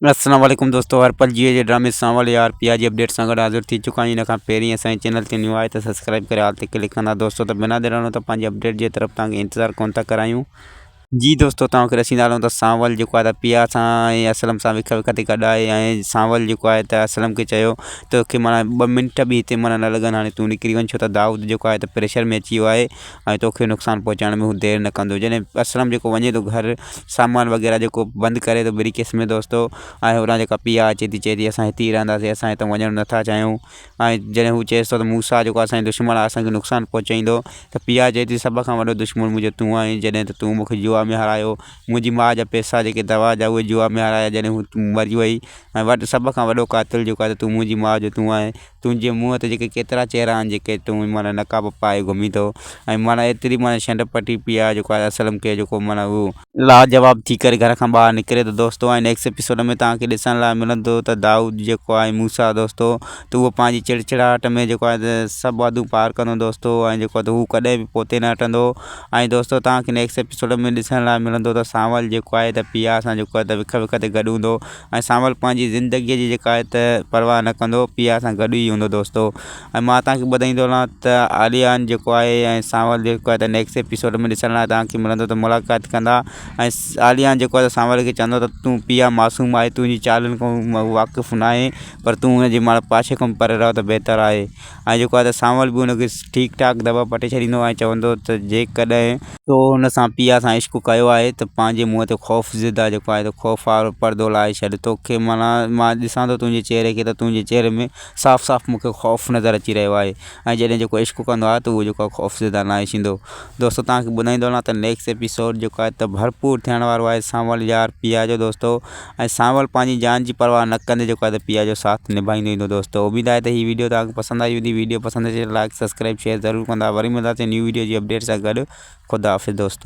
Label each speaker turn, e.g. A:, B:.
A: السلام عليڪم دوستو هر پل جيئي جي ڊرامي سان والي آر پي آر جي اپڊيٽ سان گڏ حاضر ٿي چڪا آهيون ان کان پهرين اسان جي چينل تي نيو آهي ته سبسڪرائب ڪري آل تي ڪلڪ ڪندا دوستو ته بنا دير هلون ته پنهنجي اپڊيٽ جي طرف توهان کي انتظار ڪونه ٿا ڪرايون جي دوستو توهان کي رسيندا هلون ته سانول جيڪو آهي ته پي آر سان ۽ اسلم سان وک وک تي گڏ آهي ۽ سانول جيڪو آهي ته اسلم کي چيو توکي مانا ٻه منٽ به هتي مانا نه لڳن هاڻي تون نڪري وڃ ڇو ته دائود جيڪو آهي ته پريشر ۾ اچي ويو آهي ۽ توکي نقصان پهچائڻ ۾ هو دير نه ڪندو جڏهن اسلم جيڪو وڃي ٿو گهر سامان وغيره جيڪو بند ڪري ٿو بري ڪيس ۾ دوستو ۽ هتان جيڪا پيئا اچي ٿي چئي ٿي اسان هتي ئي رهنداسين اسان هتان وڃڻ نٿا چاهيون ۽ جڏهن هو چيس ٿو ته موسيٰ جيڪو اسان جو دشمن آهي اسانکي نقصان پهچائيندو ته پيئا چئي ٿي سڀ کان وڏو دشمن منهنجو تون آهين جڏهن ته تون مونکي جوا ۾ هارايو منهنجي ماء جا پيسا جيڪي دوا جا اهي جوا ۾ هارايا جڏهن هو مري وئي ۽ وٽ سڀ کان وڏو قاتل جيڪو آهي ته تون منهنجي ماء جو تون آهين تنهنجي منهن تي جيڪي ڪيترا چهرا آهن جيڪي تون معنيٰ نقاب پائي گهمين ٿو ۽ معنيٰ ايتري معنيٰ شنڊ پٽي پئي آهي جيڪو آء اسلم کي جيڪو معنيٰ هو لاجواب ٿي ڪري گهر کان ٻاهر نڪري ٿو دوستو ۽ نيڪسٽ ايپيسوڊ ۾ توهان کي ڏسڻ لاء ملندو ته دائود جيڪو آهي موسيٰ دوستو ته اهو پنهنجي چڙچڙاهٽ ۾ جيڪو آهي ته سڀ حدون پار ڪندو دوستو ۽ جيڪو آهي ته هو ڪڏهن به پوئتي نه هٽندو ۽ دوستو توهان کي نيڪسٽ ايپيسوڊ ۾ ڏسڻ لاء ملندو ته سانول جيڪو آهي ته پيار سان جيڪو آهي ته وک وک تي گڏ هوندو ۽ سانول پنهنجي زندگيء جي جيڪا آهي ته پرواهه نه ڪندو پيار سان گڏ ئي هوندو دوستو ۽ مان توهان کي ٻڌائي ٿو هلان ته عاليان جيڪو آهي ۽ سانول جيڪو آهي ته نيڪسٽ ايپيسوڊ ۾ ڏسڻ لاء توهان کي ملندو ته ملاقات ڪندا ۽ عاليان جيڪو آهي سانول کي چوندو ته تون پيا معصوم آهي تنهنجي چالن کان واقف ناهي پر تون هن جي ماڻهو پاشي کان پري رهو ته بهتر آهي ۽ جيڪو آهي ته سانول به ان کي ٺيڪ ٺاڪ دٻا پٽي ڇڏيندو ۽ چوندو هو ته جيڪڏهن تو هن سان پيا سان عشق ڪيو آهي ته پنهنجي منهن تي خوف زده جيڪو آهي ته خوف وارو پردو لاهي ڇڏ توکي معنيٰ مان ڏسان ٿو تنهنجي چهري کي ته تنهنجي چهري ۾ صاف صاف مون کي خوف نظر اچي رهيو آهي ۽ جڏهن جيڪو عشق ڪندو آهي ته اهو جيڪو آهي خوف زده ناهي ٿيندو دوستو توهان کي ٻڌائيندو هلان ته نيڪسٽ ايپيسوڊ جيڪو آهي ته ڀرپور ٿيڻ وارو آهي سانول يار پيا جو دوستو ۽ سانول پنهنجي جان جي پرواهه نه ڪندي جيڪو آهي ته پيء جو ساٿ نڀائيندو ايندو دوستو اميد آهي ته هي ويڊيو توهان کي پسند آئي هوندي ويڊيو پسند اچي ته لائڪ سبسڪرائب شيئر ضرور ڪندا وري ملنداسين نيو ويڊيو جي اپڊيٽ سان گڏ خدا حافظ دوستو.